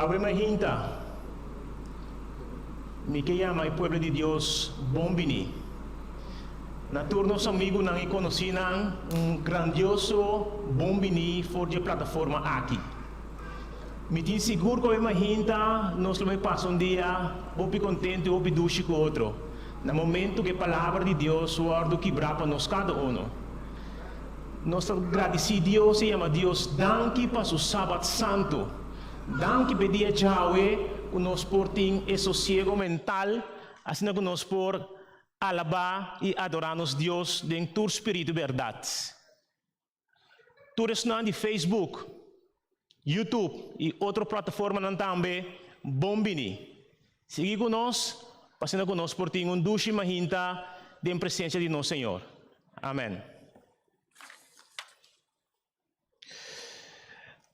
Awe mi a hinta, mi ke yama e pueblo di Dios bon bini. Na tur nos amigunan i konosínan un grandioso bon bini for di e plataforma aki. Mi tin sigur cu e mahinta nos lo bay pasa un dia hopi contento y hopi dushi cu otro, na momento cu e Palabra di Dios wordo kibra pa nos cada uno. Nos ta gradici Dios y yama Dios danki pa su Sabat santo. Danki pa e dia djawe cu nos por tin e sosiego mental asina cu nos por alaba y adora nos Dios den tur spiritu berdad. Tur esnan di Facebook, YouTube i otro plataformanan tambe bon bini. Sigui ku nos, pa asina ku nos por tin un dushi mahinta den presensia di nos Señor. Amen.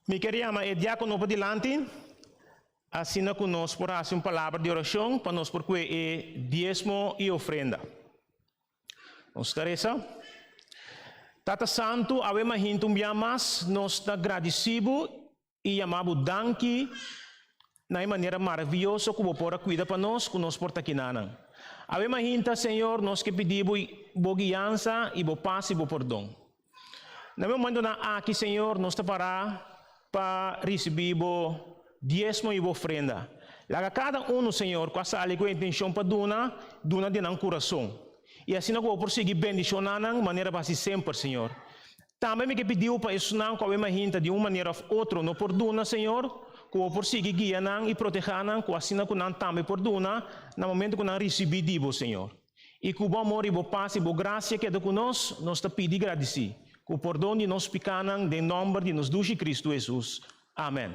Mi ker yama e diákononan pa dilanti, asina ku nos por hasi un palabra di orashon pa nos por kue e diesmo i ofrenda. Nos ta resa. Tata Santu, awe mahinta un biaha mas nos ta gradisí Bo i yamá Bo danki na e manera maravioso ku Bo por a kuida pa nos ku nos por ta kinanan. Awe mahinta, Señor, nos ke pidí Bo Bo guiansa i Bo pas i Bo pordon. Na momentonan aki, Señor, nos ta pará pa risibí bo diesmo i bo ofrenda. Laga kada unu, Señor, ku a sali ku e intenshon pa duna, duna den nan kurason, i asina ku bo por sigui bendishona nan manera bo hasi semper, Señor. Tambe mi ke pidiu pa esunnan ku awe mahinta di un manera òf otro no por duna, Señor, ku bo por sigui guia nan i protehá nan, ku asina ku nan tambe por duna na momentu ku nan risibí di bo, Señor. I ku bo amor i bo pas i bo grasia keda ku nos, nos ta pidi gradisí ku pordon di nos pikánan den nòmber di nos Dushi Kristu Hesus. Amèn.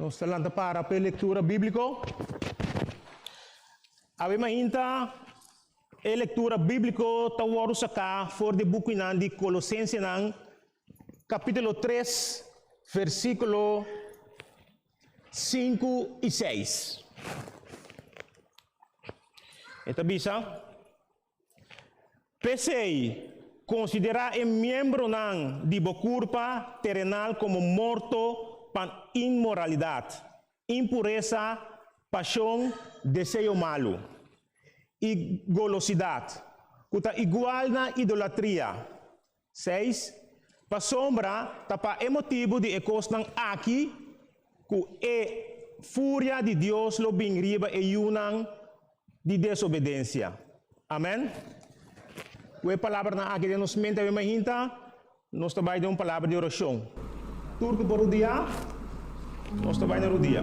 Nos ta lanta para pa e lektura bíbliko. Awe mainta e lektura bíbliko ta wòrdu saká for di e bukunan di Kolosensenan, kapítulo 3, versíkulo 5 i 6. E ta bisa, P'esei, konsiderá e miembronan di bo kurpa terenal komo morto pa inmoralidat, impuresa, pashon, deseo malu, i golosidat, ku ta igual na idolatria. Seis, Pasobra ta pa e motibu di e kosnan aki ku e furia di Dios lo bin riba e yunan di desobedensia. Amen. Ku e palabranan aki den nos mente, a wi mahinta nos ta bai den un palabra di orashon. Tur ku por rudiá. Nos ta bai na rodia.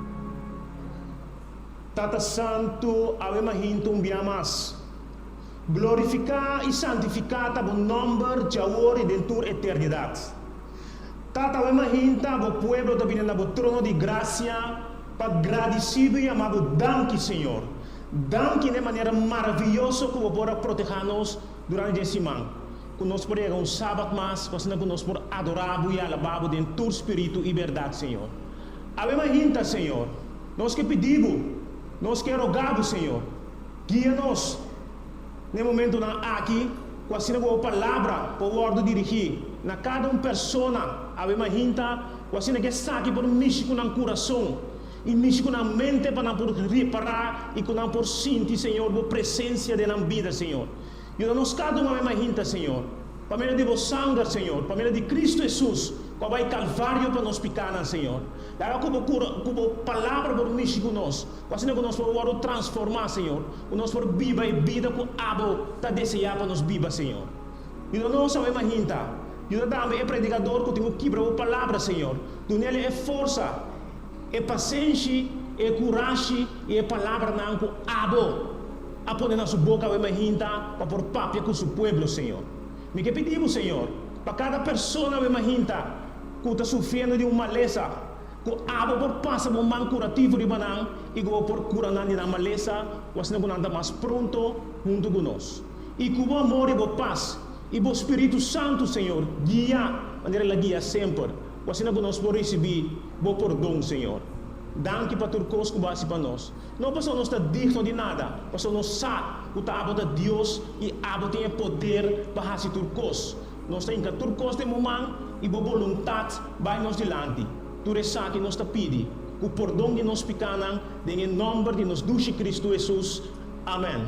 Tata Santu, awe ma hintu un bia mas. Glorifiká i santifiká ta bo nòmber dj'awor i den tur eternidat. Tata, awe ma hinta bo pueblo ta bini na bo trono di grasia pa gradisí bo i ama bo. Danki, Señor. Danki na e manera maravioso ku bo por a protehá nos durante dje siman, ku nos por yega un sabat mas ku asina ku nos por adorá bo i alabá bo den tur spiritu i berdat, Señor. Awe mas hinta, Señor, nos ke pidi Bo, nos ke rogá Bo, Señor, guia nos na e momentunan aki, ku asina Bo Palabra por wòrdu dirigí na kada un persona, awe mas hinta, ku asina ke esaki por mishi ku nan kurason i mishi ku nan mente pa nan por repará i ku nan por sinti, Señor, Bo presensia den nan bida, Señor. Yuda nos ka duma mema hinta, Señor. Pa medio di bo sanger, Señor, pa medio di Cristo Hesus, cu a bai Calvario pa nos picanan, Señor. Laga cu bo cura, cu bo Palabra por mishi cu nos, cu asina cu nos por wordo transforma, Señor, cu nos por biba e bida cu abo ta desea pa nos biba, Señor. Yuda nos a mema hinta. Yuda tambe e predicador cu tin cu kibra bo Palabra, Señor. Dunele e forsa. E pasenshi, e kurashi i e palabranan ku abo a pone na su boka awe mi a hinta pa por papia ku su pueblo, señor. Mi ke pidi bo, señor, pa kada persona awe mi a hinta ku ta sufriendo di un malesa, ku abo por pasa bo man kurativo riba nan i ku bo por kura nan di nan malesa ku asina ku nan ta mas pronto huntu ku nos. I ku bo amor i bo pas i bo spiritu santu, señor, guia manera el a guia semper. Ku asina ku nos por risibí Bo pordon, Señor. Danki pa tur kos ku Bo hasi pa nos, no pasobra nos ta digno di nada, pasobra nos sa ku ta Abo ta Dios i Abo tin e poder pa hasi tur kos. Nos ta hinka tur kos den Bo man i Bo boluntat bai nos dilanti. Tur esaki nos ta pidi ku pordon di nos pikánan den e nòmber di nos Dushi Kristu Hesus. Amèn.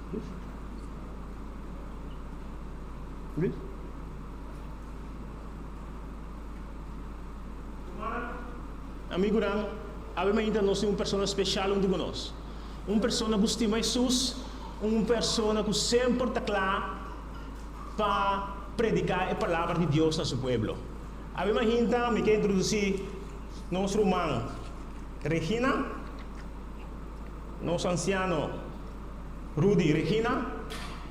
Amigonan, awe mainta nos tin un persona speshal huntu ku nos. Un persona ku stima Hesus, un persona ku semper ta kla pa prediká e palabra di Dios na su pueblo. Awe mainta mi ke introdusí nos ruman Regina, nos ansiano. Rudy, Regina,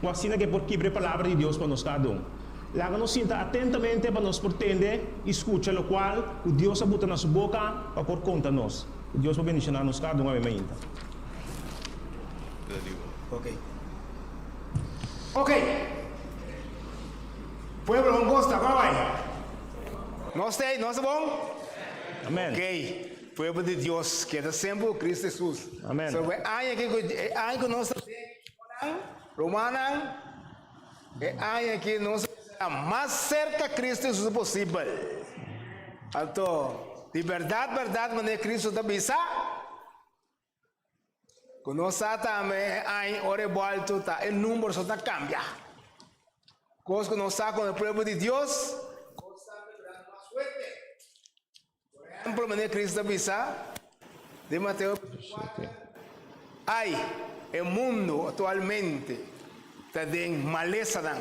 ku asina ke por kibra e palabra di Dios pa nos ta dun. Laga nos sinta atentamente pa nos por tende i skucha lokual ku Dios a buta na su boka pa por konta nos. Ku Dios por bendishoná nos kadun awe mainta. Okey, pueblo hon gosta, pa bai. Nos ta ei? Nos ta bon? Amen. Okey. Pueblo di Dios keda semper ku Kristu Hesus. Amen. So e aña aki ku e aña ku nos ta bin hermanonan, rumannan, e aña aki nos ta bisa nan mas serka Kristu Hesus posibel. Anto di bèrdat bèrdat manera Kristu ta bisa, Ku nos sa tambe e aña ora e bòlto ta e number so ta kambia. Kos ku nos sa kon e pueblo di Dios kos ta kebran mas fuerte. Por ehemplo mane Cristo ta bisa den Mateo 24, ai e mundo aktualmente ta den malesanan.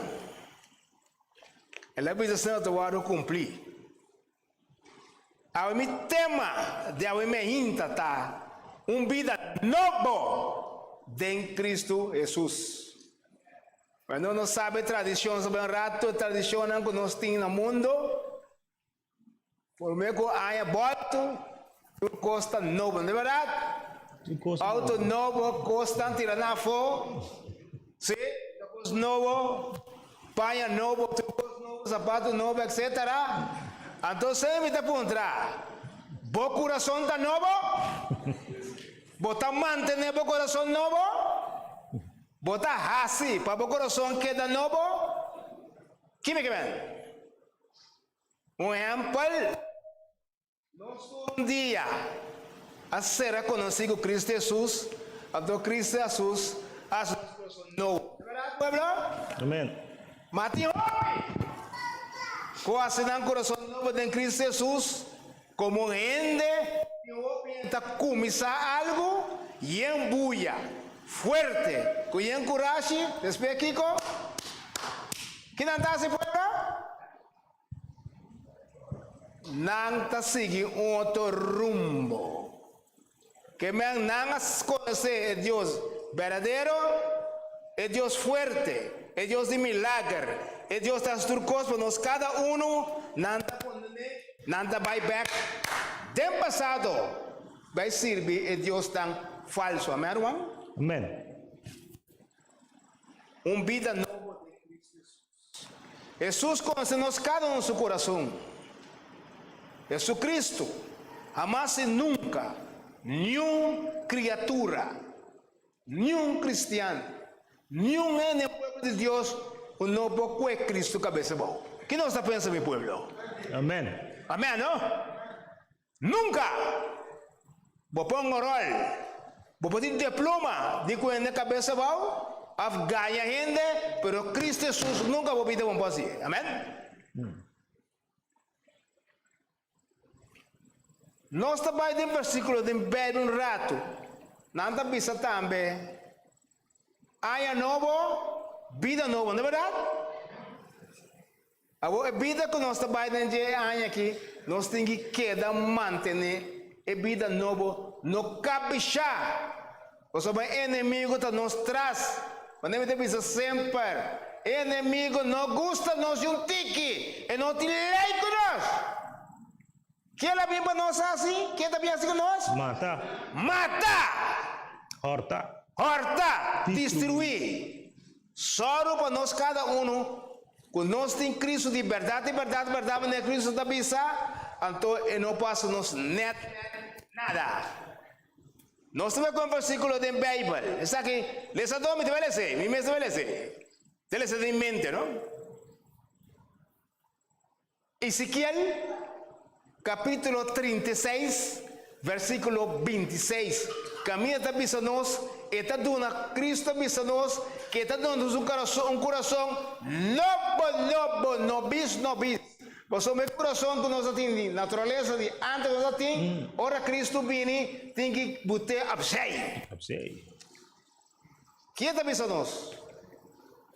El a bisa esei ta wòrdu kumplí. Awe mi tema di awe mi a hinta ta un bida nobo den Kristu Hesus. Bueno, nos sabe tradishon, sabe un ratu e tradishonnan ku nos tin na mundu, por me ku aña bolto, Un kos ta nobo, no e bèrdat? Un kos nobo. Outo nobo, kos tan tira nan afó, si, ta kos nobo, paña nobo, tur kos nobo, sapatu nobo, etsetera. Anto sey mi ta puntra, bo kurason ta nobo? Bo ta mantené bo kurason nobo? Bo ta hasi pa bo kurason keda nobo? Kimi ke bèn? Un hèmpel. Nos un dia a ser a konosí ku Kristu Hesus, anto Kristu Hesus a hasi nos kurason nobo. No bèrdat, pueblo? Amèn. Ma tin hopi ku hasi nan kurason nobo den Kristu Hesus. Komo un hende, tin hopi yen ta kuminsá algu, yen buya fuerte ku yen kurashi, despue kiko? Kinan ta hasi, pueblo? Nan ta sigui un otro rumbo. Ke men nan a konosé e Dios berdadero, e Dios fuerte, e Dios di milager, e Dios ta haci tur cos pa nos cada uno, nan ta pone, nan ta bay bek den pasado bay sirbi e diosnan falso. Amen, ruman? Amen. Un bida nobo den Cristo Jesus. Hesus konse nos kada un su kurason. Hesukristu a mas si nunka niun kriatura, niun kristian, niun hende den pueblo di Dios ku no por kue Kristu kabesa abou. Ke nos ta pensa mi pueblo? Amen. Amen no? Nunka! Bo pon gorol, bo por tin depluma di kuenda e kabesa bou, of gaña hende, pero Kristu Hesus nunka bo bida bo no por hasi. Amen. Nos ta bai den bersikulo den Beibel un ratu. Nan ta bisa tambe. Aña nobo, bida nobo, no berdad? Awor e bida cu nos ta bay den dje e aña aki, nos tin ki keda mantene e bida nobo, no kabisha, pasobra e enemigo ta nos tras. Manera mi ta bisa semper, e enemigo no gusta nos di un tiki, e no tin ley cu nos. Kiel a bin pa nos hasi? Kiel ta bin hasi ku nos? Mata. Mata. Horta. Horta. Distruí. Sòru pa nos kada unu ku nos tin Kristu di bèrdat i bèrdat bèrdat manera Kristu ta bisa, anto e no por hasi nos nèt nada. Nos ta bai kon versíkulo den Beibel. Esaki, lesadó, mi ta bai les'é, mi mes ta bai les'é. Ta les'é den mi mente, no? Ezekiel capítulo trinta i seis, versículo binti i seis. Caminda ta bisa nos, e ta duna, Cristo ta bisa nos, cu e ta duna nos un curason, un curason nobo, nobo, nobis, nobis. Pasobra e curason cu nos a tin di naturaleza di antes nos a tin, ora Cristo bini, tin ki bute opzij. Opzij. Ki e ta bisa nos?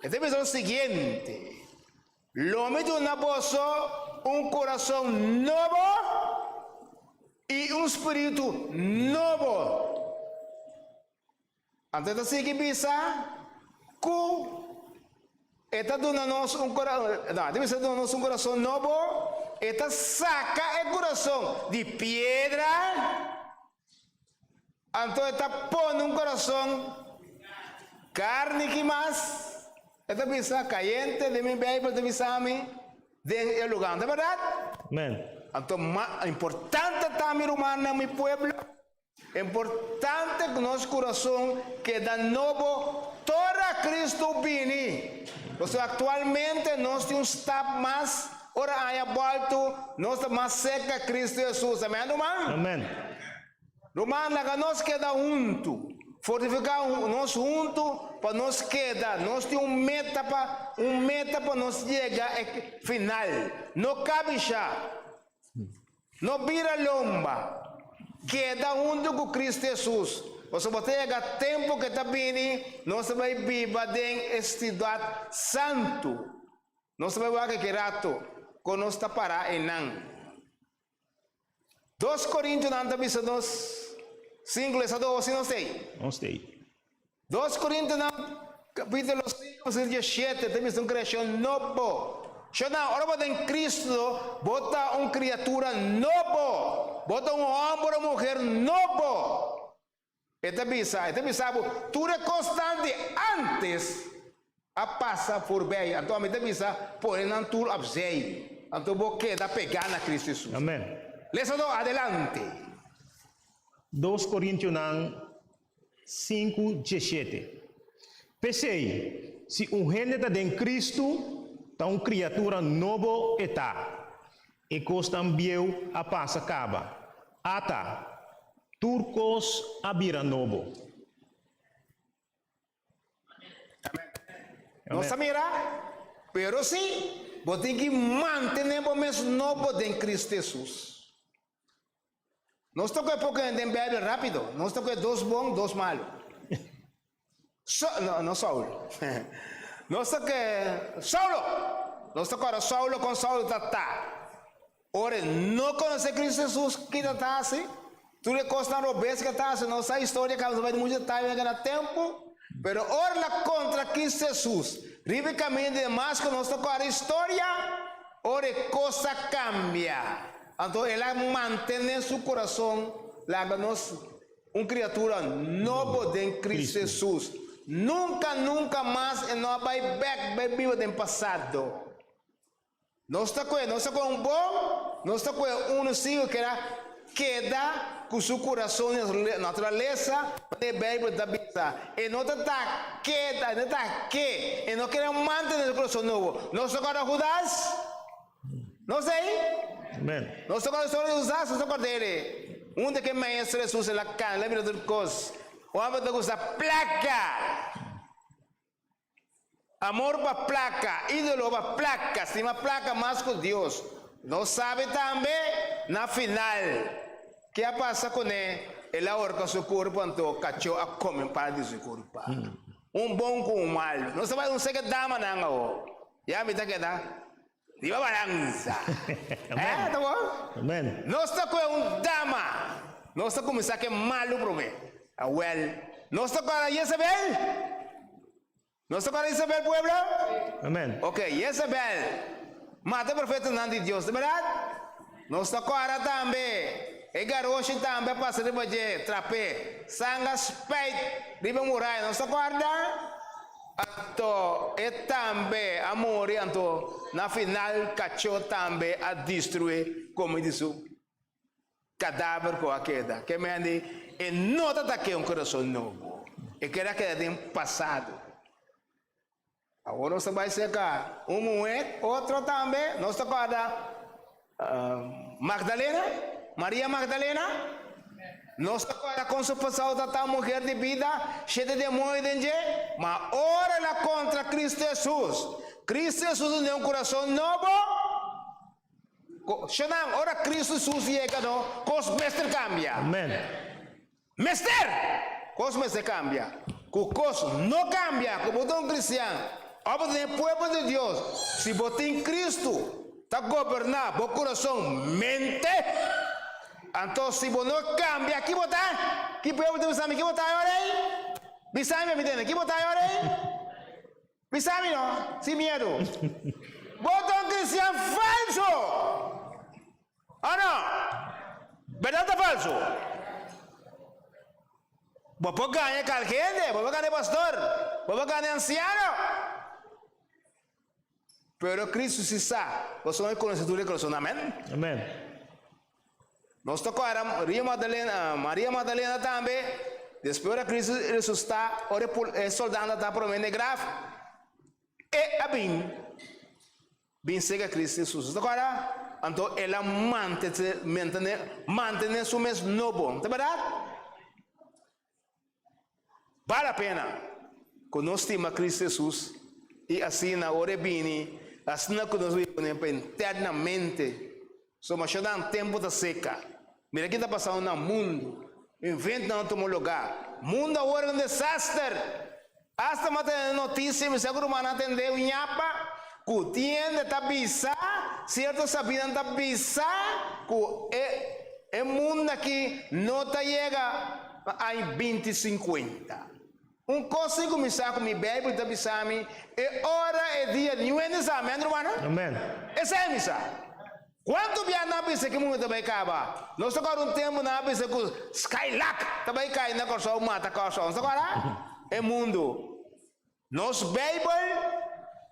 E ta bisa nos siguiente. Lo mi duna boso un kurason nobo i un spiritu nobo. Anto e ta sigui bisa ku e ta duna nos un no, e ta bisa duna nos un kurason nobo, e ta saka e kurason di piedra, Anto e ta pone un corazon carni ki mas, e ta bisa, Cayente den mi Bijbel ta bisa mi den e lugar. No ta berdad? Amen. Anto ma importante ta, mi rumannan, mi pueblo, e importante cu nos corazon keda nobo tora Cristo bini. Pasobra actualmente nos tin un stap mas. Ora aña bòltu, nos ta mas serka Kristu Hesus. Amen, ruman? Amen. Ruman, laga nos keda huntu, fortifiká nos huntu pa nos keda. Nos tin un meta pa un meta pa nos yega e final. No kabishá, no bira lomba. Keda huntu ku Kristu Hesus, pasobra ta yega tempu ke ta bini nos ta bai biba den e stidat santu. Nos ta bai wak ke rato kon nos ta pará enan. Dos korintonan ta bisa nos sinku les a dosi, nos t'ei? Nos t'ei. Dos Korintonan kapítulo sinku versiklo diashete ta bisa un kreashon nobo. Shornan, ora bo den Kristu, bo ta un kriatura nobo, bo ta un hòmber o muher nobo. E ta bisa, e ta bisa bo, tur e kosnan di ántes a pasa forbei, anto ami ta bisa, pone nan tur opzij, anto bo keda pegá na Kristu Hesus. Amen. Lesa dos, adelante. Dos Korintionan sinku diesshete. P'esei, si un hende ta den Kristu, ta un kriatura nobo e ta. E kosnan bieu a pasa kaba. Ata! Tur kos a bira nobo. Amen. No ta mira, pero si bo tin ki mantene bo mes nobo den Cristo Hesus. Nos ta ku e poko hende den Beibel rápido. Nos ta ku e dos bon, dos malu. So, no, no Saul. Nos ta ku Saulo. Nos ta kora Saulo kon Saulo ta ta. Ora no konosé Kristu Jesus, ki ta ta hasi? Tur e kosnan robes ke ta hasi, no sa historia kaba, no bai di muchu detaye den kena tempu. Pero ora na kontra Kristu Jesus, riba e kaminda di Damasko, nos ta kora historia, ora e kos a kambia. Anto el a mantene su corazon laga nos un criatura nobo den Cristo Jesus. Nunca, nunca mas e no a bay bek bay biba den pasado. Nos ta cu e, nos ta cu e un bon, nos ta cu e uno si cu kier a keda cu su corazon nes naturalesa, manera e Bijbel ta bisa. E no ta ta keda, e no ta ke, e no kere mantene su corazon nobo. Nos ta cu a ta Judas? Nos ta ei? Amen. Nos toca usar e usas nos acordere. Un di aquel maestro es usa la can, la mira tur cos. Un hombre ta usa placa. Amor pa placa, idolo pa placa, stima placa mas cu Dios. Nos sabi tambe na final ke a pasa cune el a horca su curpa, anto cacho a come parte di su curpa. Un bon cu un malo. Nos ta bai un seke damanan awor. Ya mi ta keda riba balanza. Amen. Ta bon? Amen. Nos ta coge un dama. Nos ta cuminsa ke malu prome. Awel. Nos ta cora Jezebel? Nos ta cora Jezebel, pueblo? Amen. Ok, Jezebel mata profetanan di Dios, ta berdad? Nos ta kòrda tambe, e garoshi tambe a pasa riba dje trapé, sangre a spèit riba e muraya, nos ta kòrda? Anto e tambe a muri, anto na final kachó tambe a distruí kome di su kadáver ku a keda. Ke mende e no ta ta ke un kurason nobo, e keda keda den pasado. Awor nos ta bai serka un muher, otro tambe, nos ta corda Magdalena, Maria Magdalena, nos ta corda con su pasao ta ta muher di bida, shete demoio den dje, ma ora el a contra Cristo Hesus, Cristo Hesus a duna un curason nobo, sho nan, ora Cristo Hesus yega no, cos mester cambia. Amen. mester? Kos mester kambia? Ku kos no kambia ku bo ta un kristian òf bo ta den pueblo di Dios si bo tin Kristu ta goberná bo kurason, mente? Anto si bo no kambia ki bo ta? Ki pueblo ta bisa mi ki bo ta ayora ei? Bisami pa mi tende ki bo ta ayora ei? Bisa mi no, sin miedu. Bo ta un cristian falso, o no? Berdad ta falso? Bo por gaña kalke hende, bo por gaña e pastor, bo por gaña e anciano, pero Cristo si sa bo son e conocedur del corazon. Amen. Amen. Nos ta kòrda Maria Magdalena, Maria Magdalena tambe, despues ora Kristu resusitá, ora e pul, e soldadnan ta promé na e graf, e a bin, bin sega Kristu Hesus. Ta kòrda? Anto el a mantete, mantene, mantene su mes nobo, ta bèrdat? Bal a pena ku nos stima Kristu Hesus i asina ora e bini, asina ku nos wiwa nel pa internamente. So masha nan tempu ta seka. Mira ke ta pasando na mundu. Inventnan a tuma lugá. Mundu awor un desaster. Asta m'a tene noticia, mi sa cu rumannan ta hende un ñapa cu tin hende ta bisa, cierto sabinan ta bisa cu e e mundo aki no ta yega pa aña binti sincuenta. Un cos si cu mi sa cu mi Bijbel ta bisa mi, e ora, e dia, niun hende sa. Amen, rumannan? Amen. Esei mi sa. Cuanto bia nan a bisa ki mundo ta bay caba? Nos ta cora un tempo nan a bisa cu Skylack ta bay cay na Corsou mata Corsou, nos ta cora? E mundo. Nos Bijbel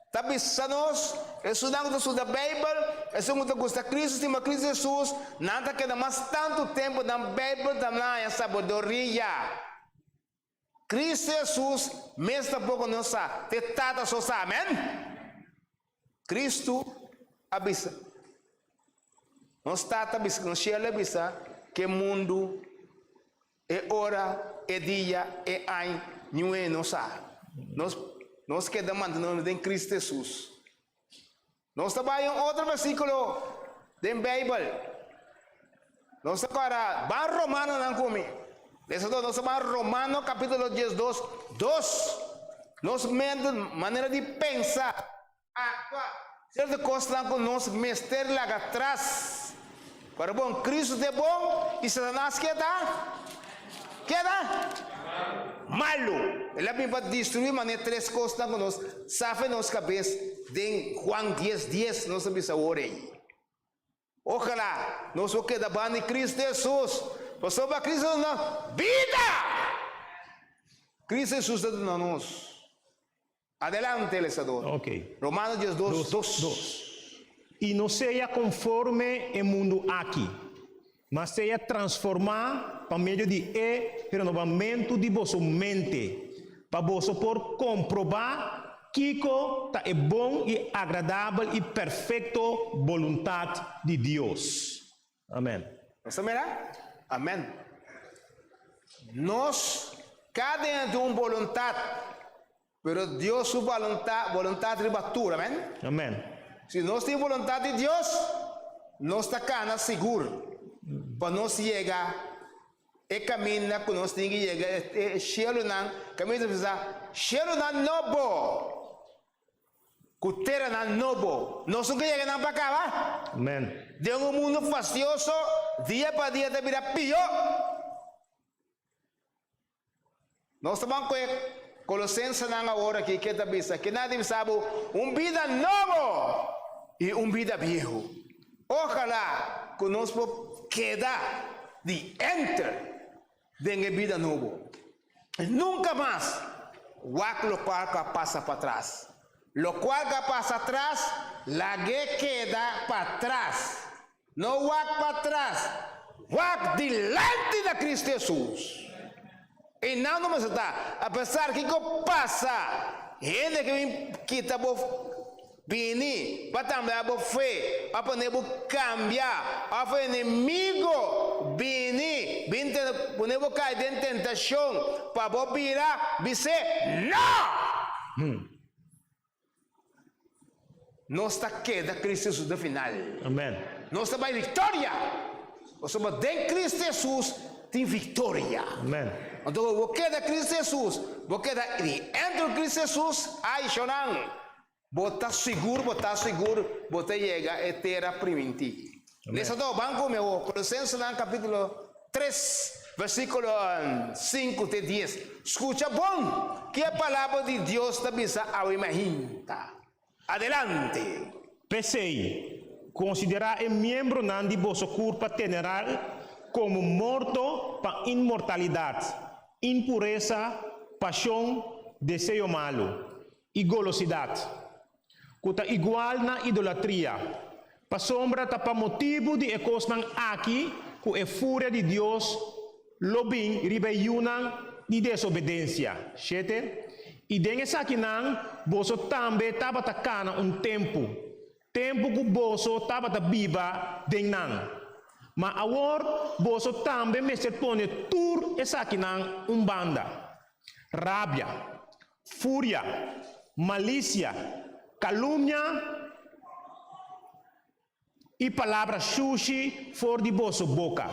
ta bisa nos, esunnan cu ta studa Bijbel, esun cu ta gusta Cristo, stima Cristo Jesus, nan ta keda mas tanto tempo nan Bijbel ta nan haña sabedoria. Cristo Jesus mes ta bo cu nos sa cu e Tata so sa, amen? Cristo a bisa, Nos Tata a bisa, nos Shela a bisa cu e mundo, e ora, e dia, e aña, niue nos sa. Nos, nos keda mantene nos den Cristo Jesus. Nos ta bai un otro versículo den Bijbel. Nos ta para ban Romanonan cu mi. Lesa dos, nos ta ban Romano capítulo dies dos, dos. Nos mente, manera di pensa, actua, cierto cosnan cu nos mester laga tras. Pero bon, Cristo ta e bon y Satanas ke ta? Ke ta? Malu. El a bin pa destruí manera tres cosnan cu nos sa fe nos cabes den Juan dies dies, nos ta bisa awor ey. Ojala nos por keda ban di Cristo Jesús, pasobra Cristo ta nan bida. Cristo Jesús ta duna nos. Adelante, lesador. Romanos dies dos, dos. I no sea conforme e mundu aki, mas sea transforma pa medio di e renovamentu di boso mente, pa boso por comproba kico ta e bon, i agradabel, i perfecto boluntad di Dios. Amen. Nos ta mira? Amen. Nos cada un a tin un boluntad, pero Dios su baluntad, boluntad riba tur. Amen. Amen. Si nos tin boluntad di Dios, nos ta cana sigur pa nos yega e caminda cu nos tin ki yega, e, e shielonan, caminda bisa, shielonan nobo, Ku teranan nobo. Nos un keyega nan pa kaba. Amen. Den un mundu fastioso, dia pa dia ta bira pió. Nos ta ban ku e kolosensenan awor aki ke ta bisa, ke na divisá bo un bida nobo i un bida biehu. Ojalá ku nos por keda di enter. Den e bida nobo, nunka mas wak lokual ku a pasa patras. Lokual ku a pasa atras, lag'é keda patras. No wak patras, wak dilanti na Kristu Hesus. I nan no mester ta apesar kiko pasa, hende ke bin kita bo. Bini, pa tambe abo fe, pa pone bo cambia, of enemigo bini, bin tene pone bo cay den tentacion, pa bo bira, bis'é, No! Nos ta keda Cristo Jesus den final. Amen. Nos ta bay victoria, pasobra den Cristo Jesus tin victoria. Amen. Anto, abo bo keda Cristo Jesus, bo keda di entro Cristo Jesus, ay, Shonan, Bo ta sigur, bo ta sigur, bo ta yega e tera primintí. Lesa do ban ku mi awo, Kolosensenan kapítulo 3, versíkulo 5 te 10. Skucha bon ke e palabra di Dios ta bisa awe mi a hinta. Adelante! P'esei, konsiderá e miembronan di boso kurpa teneral komo morto pa inmortalidat, impuresa, pashon, deseo malu. i golosidat, ku ta igual na idolatria, pasobra ta pa motibu di e kosnan aki ku e furia di Dios lo bin riba e yunan di desobedensia. Shete, I den esakinan boso tambe tabata kana un tempu, tempu ku boso tabata biba den nan. Ma awor boso tambe mester pone tur esakinan un banda, rabia, Furia, malicia, calumnia y palabra shushi for di boso boca.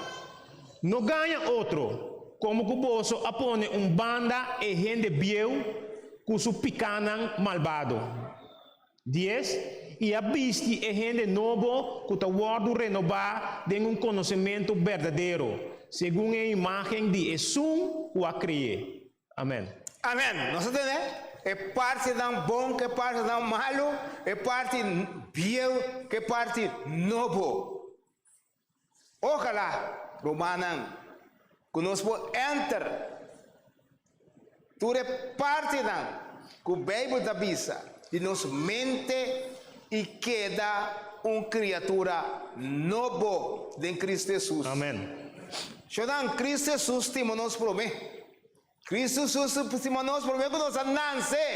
No gaña otro, como cu boso a pone un banda e hende bieu cu su picanan malbado. Dies, y a bisti e hende nobo cu ta wordo renoba den un conocemento berdadero, segun e imagen di Esun cu a cree. Amen. Amen. Nos a tene e partinan bon ku e partinan malu, e parti bieu ku e parti nobo. Ojalá, rumannan, ku nos por enter tur e partinan ku Beibel ta bisa di nos mente i keda un kriatura nobo den Kristu Hesus. Amen. Zonan, Kristu Hesus stima nos promé. Kristu Hesus stima nos promé ku nos a nase.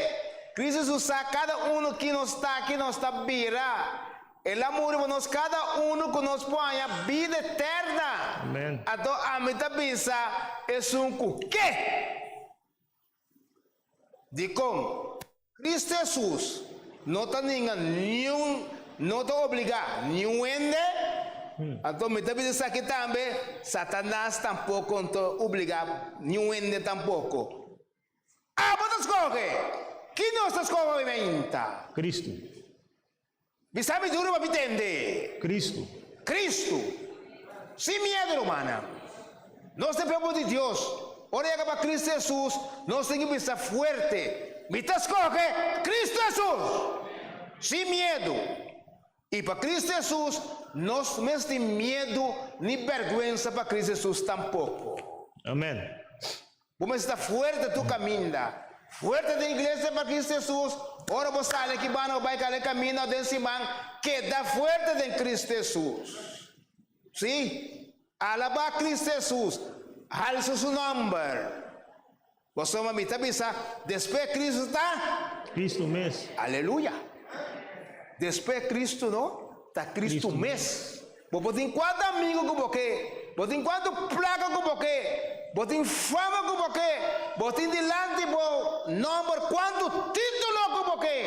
Kristu Hesus sa kada unu kin nos ta, kin nos ta bira. El a muri pa nos kada unu ku nos por haña bida eterna. Amen. Anto ami ta bisa esun ku ke? Dikon? Kristu Hesus no ta ninga niun, no ta obligá niun hende, anto mi ta bisa esaki tambe, Satanas tampoko no ta obligá niun hende tampoko. Abo ta skohe! Kin nos ta skohe ointa? Kristu. Mi sabidura pa mi tende. Cristo. Cristo. Sin miedo, rumannan. Nos ta pueblo di Dios. Ora yaga pa Cristo Jesus, nos tin ki bisa fuerte, Mi ta scoge Cristo Jesus! Sin miedo. Y pa Cristo Jesus, nos no mester tin miedo ni berguensa pa Cristo Jesus tampoco. Amen. Bo mester ta fuerte tur kaminda. Fuerte den Iglesia pa Kristu Hesus, ora bo sali aki banda bo bai kale kaminda o den siman, keda fuerte den Kristu Hesus. Sí, alabá Kristu Hesus, halsa su nòmber. Bo soma mi ta bisa, despues Kristu ta? Kristu mes. Aleluya! Despues Kristu no, ta Kristu mes. Bo por tin kuantu amigu ku bo ke, bo tin kuantu plaka ku bo ke, bo tin fama ku bo ke, bo tin dilanti bo nòmber kuantu título ku bo ke,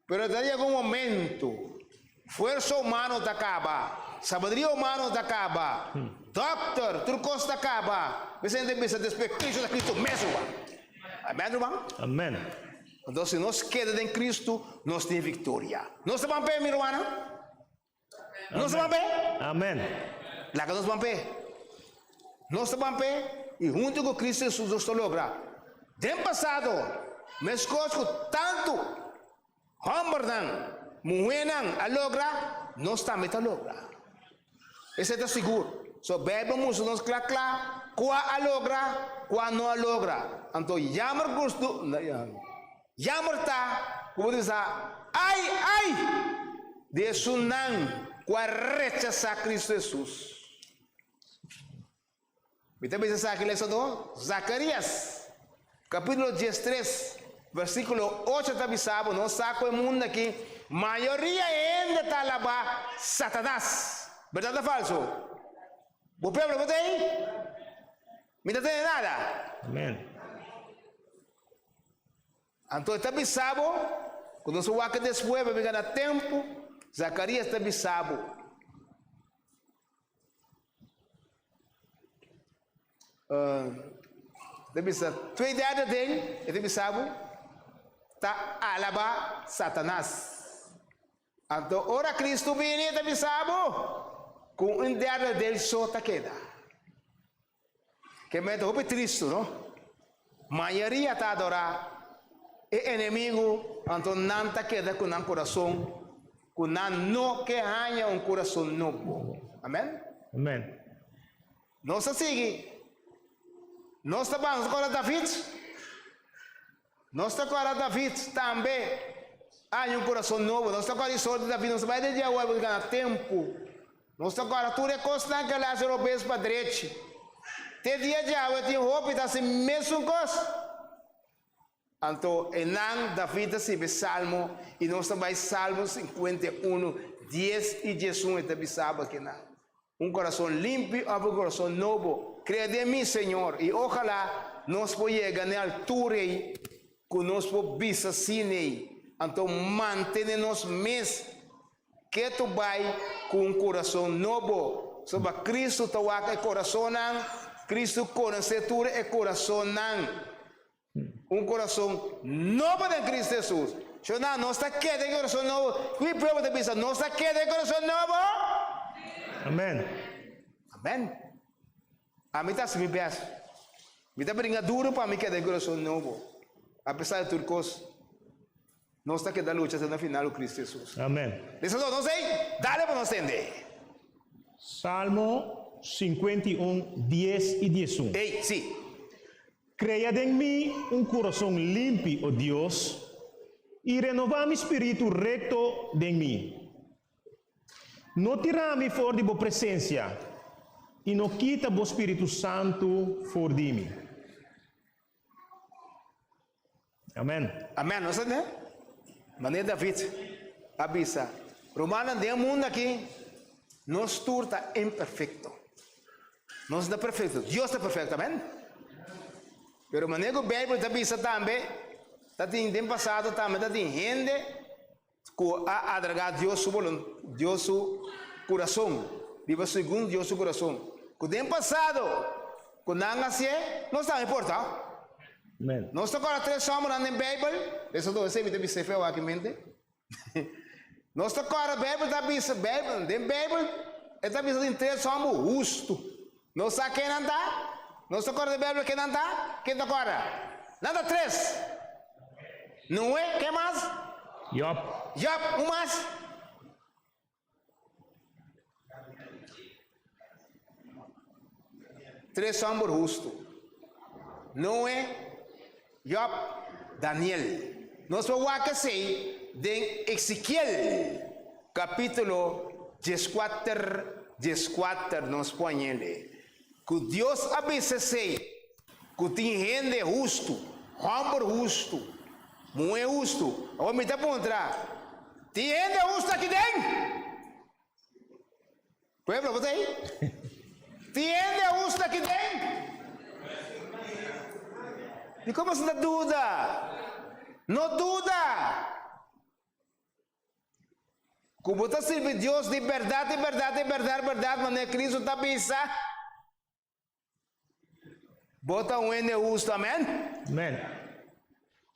pero ta yega un momentu fuersa humano ta kaba, sabadria humano ta kaba, dòkter, tur kos ta kaba, mes hende bisa despues Kristu ta Kristu mesun ba. Amen, ruman? Amen. Anto si nos keda den Kristu, nos tin viktoria. Nos ta ban p'e, mi rumannan? Nos ta ban p'e. Amen. Laga nos ban p'e. Nos ta ban p'e i huntu ku Kristu Hesus nos ta logra den pasado meskos ku tantu hòmbernan, muhénan a logra, nos tambe ta logra. Esei ta sigur. So Beibel a mustra nos kla kla kua a logra, kua no a logra. Anto yamber gustu. Yammer ta ku bo tin sa ai ai di esunnan ku a rechasá Kristu Hesus. Mi ta bisa esaki lesadó. Zakarias, kapítulo dies tres, versíkulo ocho ta bisa bo nos sa ku e mundu akí mayoria e hende ta alabá Satanas. Bèrdat o falso? Bo prueba lo bo ta ei? Mi ta tende nada. Amèn. Anto e ta bisa bo ku nos a wak des hueve mi gana tempu? Zakarias ta bisa bo. Uh, ta bisa twee derde den, e ta bisa bo, ta alaba Satanas. Anto ora Kristu bini, e ta bisa bo ku un derde den so ta keda. Ke me ta hopi tristu, no? Mayoria ta adorá e enemigu, anto nan ta keda ku nan kurason ku nan no ke haña un kurason nobo. Amen? Amen. Nos ta sigui. Nos ta bansa ora David. Nos ta kora David tambe, aña un kurason nobo. Nos ta kora di sort di David, nos ta bai den dia wòrba di gana tempu. Nos ta kora tur e kosnan ku el hasi robes pa drechi. Te dia dje awe tin hopi ta hasi mesun kos. Anto enan David ta sibi salmo i nos ta bai Salmo sinkuenta i unu, dies i diesun, e ta bisaba kinan. Un corazon limpio of un corazon nobo? Crea den mi, Señor, y ojala nos por yega n'e altura ey cu nos por bisa sin'ey. Anto mantene nos mes keto bay cu un corazon nobo. Soba Cristo ta wak e corazonnan, Cristo conoce tur e corazonnan. Un corazon nobo den Cristo Jesus. Zo na, nos ta keda e corazon nobo. Ki pueblo ta bisa, nos ta keda e corazon nobo? Amen. Amen. Ami ta haci mi best. Mi ta bringa duro pa mi keda e corazon nobo, a pesar di tur cos. Nos ta keda lucha hasta na final cu Cristo Jesus. Amen. Lesa so, nos ey, dale pa nos tende ey. Salmo cincuenta y un, dies y diesun. Ey, si. Crea den mi un corazon limpi, o Dios, y renova mi spiritu recto den mi. No tira mi for di bo presencia, y no kita bo Spiritu Santu for di mi. Amen. Amen, no sende? Maneer David a bisa, Rumannan, den e mundo aki, nos tur ta imperfecto. Nos ta perfecto, Dios ta perfecto, amen? Pero maneer cu Bijbel ta bisa tambe, ta tin den pasado tambe ta tin hende Ku a adragá Dios su boluntad, Dios su kurason, biba segun Dios su kurason, ku den pasado ku nan hasié nos tambe por ta. Amen. Nos ta kòrda tres sòmbernan den Beibel, Lesotoe Sevi ta bisa e feo aki mente. Nos ta kòrda Beibel ta bisa, Beibel, den Beibel e ta bisa tin tres sòmber, hustu. Nos sa ke nan ta? Nos ta kòrda di Beibel ke nan ta? Ken ta kòrda? Nan ta tres. Noe, ken mas? Jòb. Jòb, un mas? Tres hòmber hustu. Noe. Job, Daniel. Nos por wak esei den Ezekiel, kapítulo dieskuater, dieskuater nos pone el e ku Dios a bisa esei ku tin hende hustu, hòmber hustu, muhé hustu. Awor mi ta puntra, Tin hende hustu aki den? Pueblo bo ta ei? Tiende a us taki den? Dikon mas no ta duda? No duda! Ku bo ta sirbi Dios di bèrdat i bèrdat i bèrdat bèrdat manera Kristu ta bisa. Bota un hende hustu. Amen. Amen.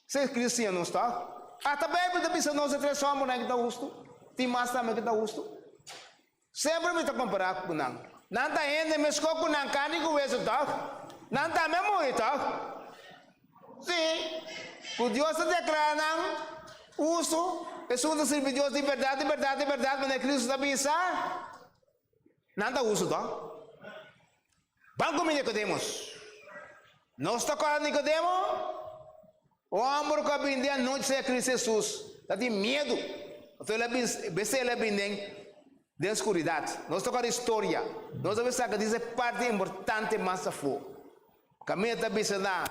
Se cristiano sta. Hasta Bijbel ta bisa nos e tres hombrenan ki ta hustu. Tin mas tambe ki ta hustu. Semper mi ta compara cu nan. Nan ta hende mesco cu nan, carni cu hueso, toch? Nan tambe a muri, toch? Si, cu Dios ta declara nan hustu, esun ta sirbi Dios di berdad, di berdad, di berdad, manera Cristo ta bisa. Nan ta uso do. Ban ku mi Nikodemus. Nos ta kòrda Nikodemo, un hòmber ku a bin den anochi sa ya Kristu Hesus, ta tin miedu, pasobra el a bin bes el a bin den den skuridat. Nos ta kòrda e storia. Nos a bin saka di se parti importante mas afó. Camilla ta bisa na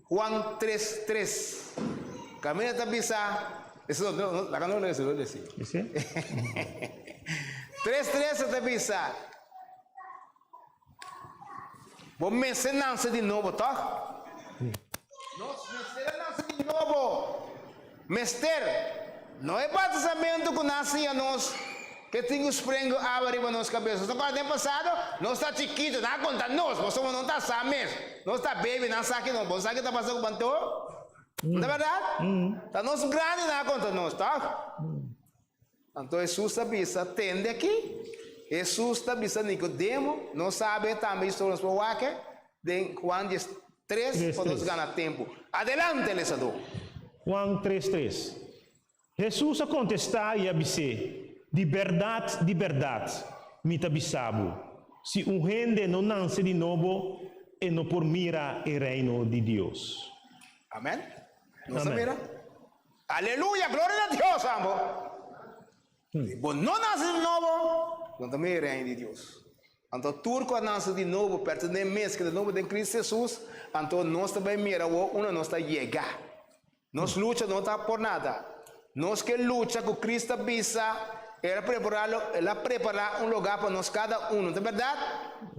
Juan tres tres. Camilla ta bisa Eso no, no, la no lees, lo lees. ¿Sí? tres tres ta bisa. Bo mester nace de nuevo, toch? Nos mester nace de nuevo. Mester. No e batisamentu ku nan siña nos ku e tin ku sprengu awa riba nos kabes. Nos ta kòrda den pasado, nos ta chikitu, nan a konta nos, Boso bo no ta sa mes, nos ta bebi, nan sa ki nos. Bo sa ke ta pasa ku Bantou? No ta bèrdat? Ta nos grandi nan a konta nos, tòg? Anto Hesus ta bisa, Tende aki. Hesus ta bisa Nicodemo, No sabe tambe e storia nos por wake? den Juan dies tres, Tres pa nos tres. gana tempu. Adelante lesador! Juan tres tres. Hesus a contesta y a bis'e, Di berdad, di berdad, mi ta bisa bo, Si un hende no nance di nobo, e no por mira e Reino di Dios. Amen. Nos ta Amen. mira. Aleluya gloria na Dios amo si bo no nase di nobo no ta mei reino di Dios anto tur cu a nase di nobo pertene mes que ta nobo den Cristo Jesus anto nos ta bay mira awor unda nos ta yega nos lucha no ta por nada nos ke lucha cu Cristo a bisa el a prepara lo el a prepara un lugar pa nos cada uno ta berdad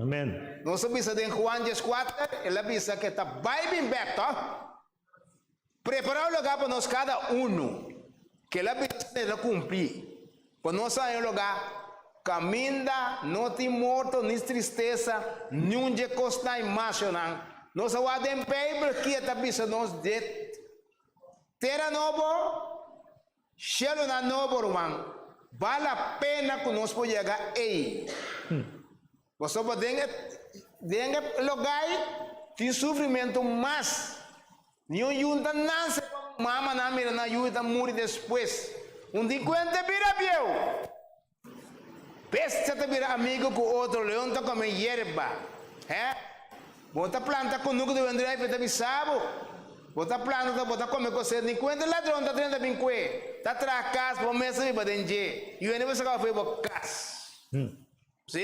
Amen. nos a bisa den Juan dies kuater el a bisa ke ta bay bin bek to. Prepara un lugá pa nos kada unu. Kel abilis mester ta kumplí pa nos ta den un lugá kaminda no tin morto ni tristesa ni un dje kosnan machonan. Nos a wak den Beibel ki a ta bisa nos dje tera nobo. Shielunan nobo, ruman, bal a pena ku nos por yega ei. Pasobra den e den e logai tin sufrimentu mas. Niun yunta nanse pa mamanan mira nan yuyu ta muri despues. Un di kuenta e bira bieu. Bestia ta bira amigu ku otro, leon ta kome yerba. He, bo ta planta kunuku di wendré ai pe ta bisa bo. Bo ta planta ta bo ta kome kosé, ni kuenta ladron ta drenta bin kue, ta traha kas bo mes ta biba den dje, i wende bo saka bo fe bo kas. Hm. Sí.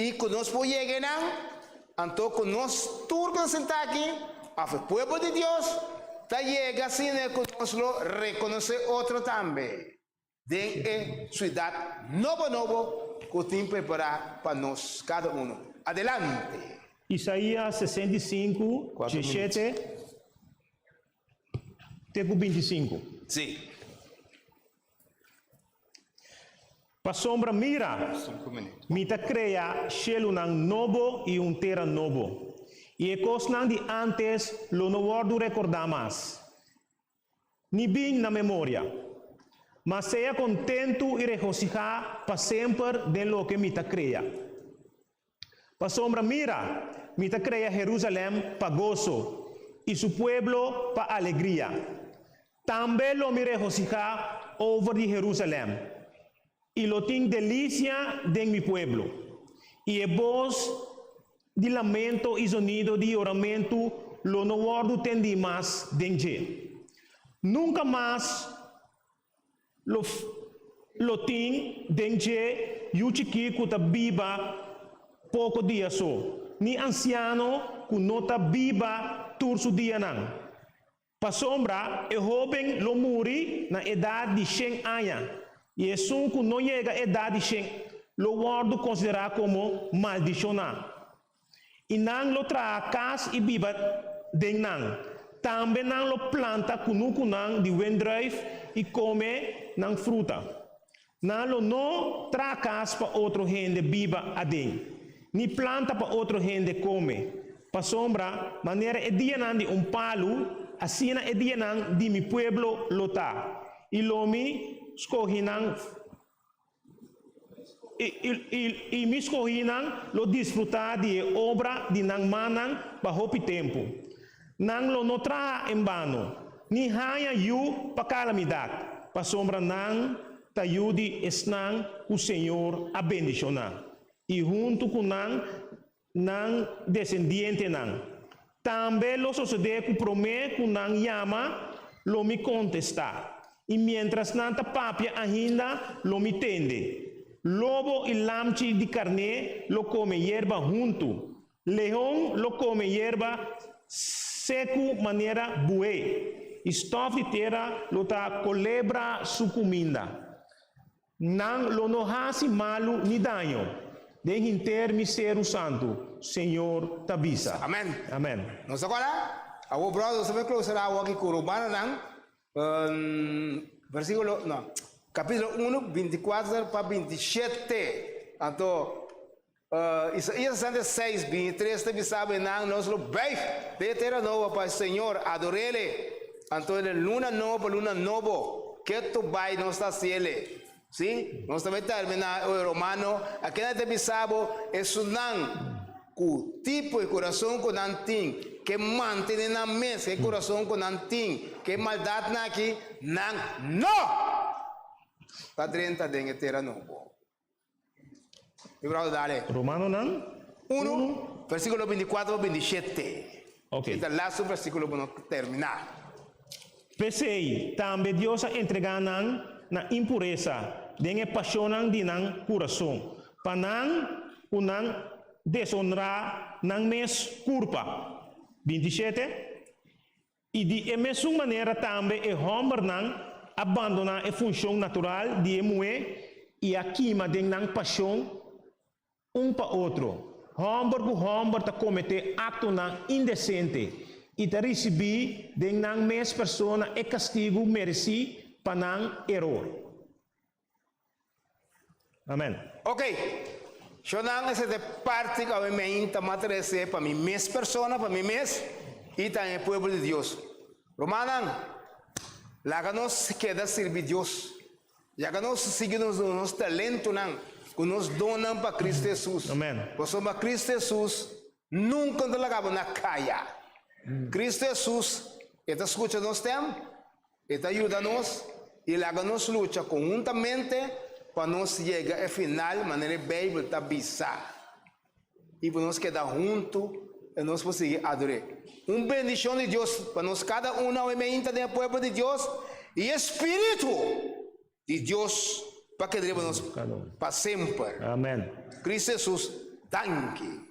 I ku nos por yega enan, anto ku nos tur ku ta sentá aki, òf e pueblo di Dios, ta yega asina ku nos lo rekonosé otro tambe den e siudat nobo nobo ku tin prepará pa nos kada unu. Adelante! Isaías sesenta i sinku, dieshete, te ku binti sinku. Sí. Pasobra mira, Mi ta krea shelunan nobo i un tera nobo, i e kosnan di ántes lo no wòrdu rekordá mas, ni bin na memoria. M'a sea kontentu i regosihá pa semper den loke Mi ta krea. Pasobra mira, mi ta krea Herúsalèm pa goso, i su pueblo pa alegria. Tambe lo mi regosihá over di Herúsalèm, i lo tin delisia den mi pueblo. I e bos di lamento i zonido di yoramentu lo no wòrdu tendí mas den dje. Nunka mas Lo lo tin den dje yu chikí ku ta biba poko dia so, ni ansiano ku no ta biba tur su dianan. Pasobra e hóben lo muri na edat di shen aña, i esun ku no yega edat di shen lo wòrdu konsiderá komo maldishoná. I nan lo traha kas i biba den nan. Tambe nan lo planta kunukunan di wendrùif i kome nan fruta. Nan lo no traha kas pa otro hende biba aden, ni planta pa otro hende kome. Pasobra manera e dianan di un palu, asina e dianan di mi pueblo lo ta, i lo mi skohi nan. I, i, i, i mi skohinan lo disfrutá di e obra di nan mannan pa hopi tempu. Nan lo no traha en bano, ni haña yu pa kalamidat, pasobra nan ta yu di esnan ku Señor a bendishoná, i huntu ku nan, Nan desendientenan tambe lo sosodé ku promé ku nan yama, lo mi kontestá, i miéntras nan ta papia ainda, lo mi tende. Lobo i lamchi di karné lo kome yerba huntu, leon lo kome yerba seku manera buhé, i stòf di tera lo ta kolebra su kuminda. Nan lo no hasi malu ni daño den hinter mi seru santu, Señor ta bisa. Amen. Amen. Nos ta kora, Awo bròder, nos ta bai klosa na awo aki ku Romanonan, versíkulo, no, kapítulo unu, binti kuater pa binti shete. Anto. Isaías 66, 23 ta bisaba e nan, Nos lo bèf den e tera nobo pa e Señor, ador'E Le. Anto den e luna nobo pa luna nobo, ke tur bai nos ta hasiele? Sí, nos ta bai tèrmina. Oe romano, akina ta bisa bo esunnan ku tipo e kurason ku nan tin, ke mantene nan mes ku e kurason ku nan tin, ku e maldatnan akí, nan no ta drenta den e tera nobo. Mevrouw, dale. Romanonan. Uno, versículo 24 a 27. Ok. Esta laatste versículo por no terminá. P'esei, tambe Dios a entregá nan na impuresa den e pashonnan di nan kurason, pa nan ku nan desonrá nan mes kurpa. 27, I di e mesun manera tambe e hòmbernan a bandoná e funshon natural di e muhé i a kima den nan pashon un pa otro. Hòmber ku hòmber ta kometé aktonan indesente i ta risibí den nan mes persona e kastigu meresí pa nan eror. Amen. Ok, Shonan ese te parti cu mi me inta mater ese pa mi mes persona, pa mi mes y ta e pueblo di Dios. Rumannan, laga nos keda sirbi Dios. Yaga nos sigui nos, nos talentonan cu nos donnan pa Cristo Jesus. Amen. Pasobra Cristo Jesus nunca ta laga bo na caya. Cristo Jesus e ta scucha nos stem. E ta yuda nos i laga nos lucha konhuntamente pa nos yega e final manera e Beibel ta bisa i pa nos keda huntu i nos por sigui ador'é. Un bendishon di Dios pa nos kada un awe mainta den e pueblo di Dios i e Spiritu di Dios pa keda riba nos pa semper. Cristo Jesus, danki.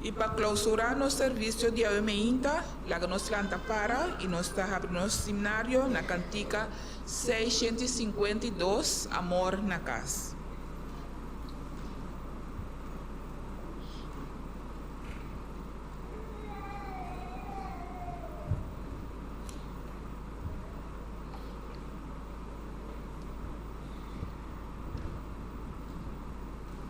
I pa clausura nos servicio di awe meinta, laga nos lanta para i nos ta habri nos himnario na cantica seiscientos y cincuenta y dos, Amor na cas.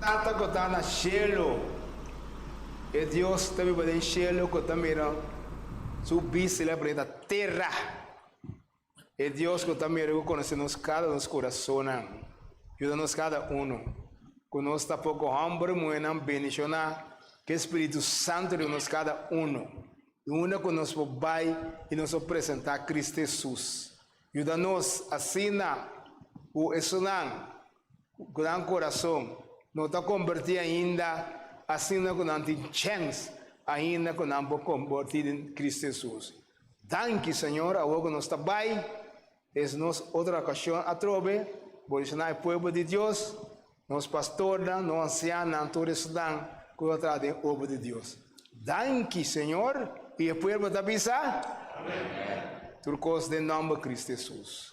Tata ku ta na shelu. E Dios ta biba den shelu ku ta mira Su bistinan bini na tera. E Dios ku ta mira i ku konosé nos kada nos kurasonnan, yuda nos kada unu ku nos ta pon ku hòmber i muhernan bendishoná ku e spiritu santu riba nos kada unu, di unda ku nos por bai i nos por presentá Kristu Hesus. Yuda nos asina ku esnan ku gran korason, no ta kombertí ainda, asina ku nan tin chèns ainda ku nan por kombertí den Kristu Hesus. Danki, Señor, awor ku nos ta bai, es nos otro okashon atrobe, bo disha nan e pueblo di Dios, nos pastornan, nos ansiannan, tur esnan ku ta traha den obra di Dios. Danki, Señor, i e pueblo ta bisa, Tur kos den nòmber Kristu Hesus.